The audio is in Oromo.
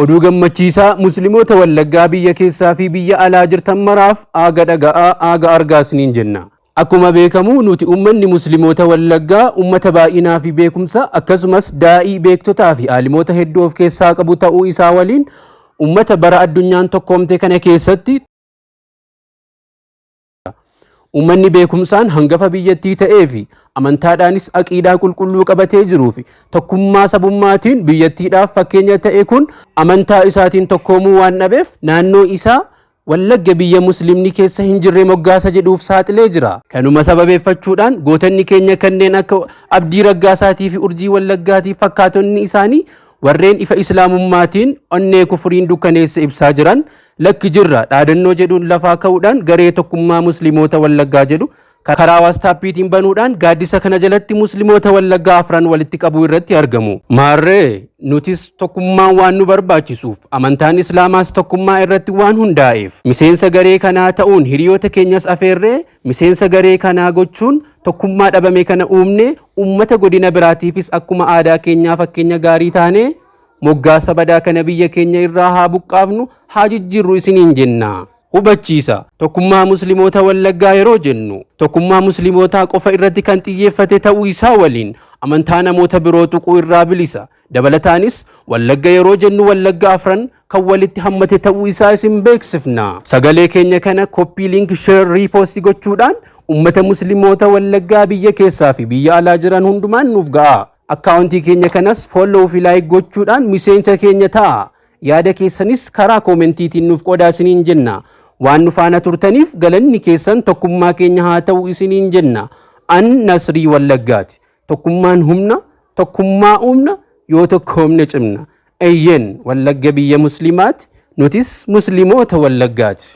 Oduu gammachiisaa muslimoota wallaggaa biyya keessaa fi biyya alaa jirtan maraaf aaga dhaga'aa aaga argaa isiniin jenna. Akkuma beekamu nuti ummanni muslimoota wallaggaa ummata baay'inaa fi beekumsa akkasumas daa'ii beektotaa fi aalimoota hedduu of keessaa qabu ta'uu isaa waliin ummata bara addunyaan tokkoomte kana keessatti Uummanni beekumsaan hangafa biyyattii ta'ee fi amantaadhaanis aqiidaa qulqulluu qabatee jiruu fi tokkummaa sabummaatiin biyyattiidhaaf fakkeenya ta'e kun amantaa isaatiin tokkoomuu waan dhabeef naannoo isaa Wallagga biyya Musliimni keessa hin jirre moggaasa jedhuuf saaxilee jira. Kanuma sababeeffachuudhaan gootonni keenya kanneen akka Abdii Raggaasaatii fi Urjii Wallaggaatiif fakkaatonni isaanii warreen ifa Islaamummaatiin onnee kufuriin dukkaneesse ibsaa jiran Lakki jirra dhaadannoo jedhuun lafaa ka'uudhaan garee Tokkummaa Muslimoota Wallaggaa jedhu karaa waastaappiitiin banuudhaan gaaddisa kana jalatti Muslimoota Wallaggaa afran walitti qabuu irratti argamu. Maarree nutis tokkummaan waan nu barbaachisuuf amantaan Islaamaas tokkummaa irratti waan hundaa'eef miseensa garee kanaa ta'uun hiriyoota keenyas afeerree miseensa garee kanaa gochuun tokkummaa dhabame kana uumne uummata godina biraatiifis akkuma aadaa keenyaa fakkeenya gaarii taanee Moggaasa badaa kana biyya keenya irraa haa buqqaafnu, haa jijjiirru isiniin jenna. Hubachiisa, Tokkummaa Muslimoota Wallaggaa yeroo jennu, tokkummaa Muslimootaa qofa irratti kan xiyyeeffate ta'uu isaa waliin, amantaa namoota biroo tuquu irraa bilisa. Dabalataanis, Wallagga yeroo jennu Wallagga afran kan walitti hammate ta'uu isaa isin beeksifna. Sagalee keenya kana copy link share repost gochuudhaan ummata Muslimoota Wallaggaa biyya keessaa fi biyya alaa jiran hundumaan nuuf ga'aa. Akkaawuntii keenya kanas follow fi like gochuudhaan miseensa keenya ta'aa! Yaada keessanis karaa koomentiitiin nuuf qoodaa isiniin jenna. Waan nu faana turtaniif galanni keessan tokkummaa keenya haa ta'u isiniin jenna. An Nasrii Wallaggaati. Tokkummaan humna, tokkummaa uumna, yoo tokkoomne cimna. Eyyeen, Wallagga biyya Musliimaati, nutis Musliimoota Wallaggaati.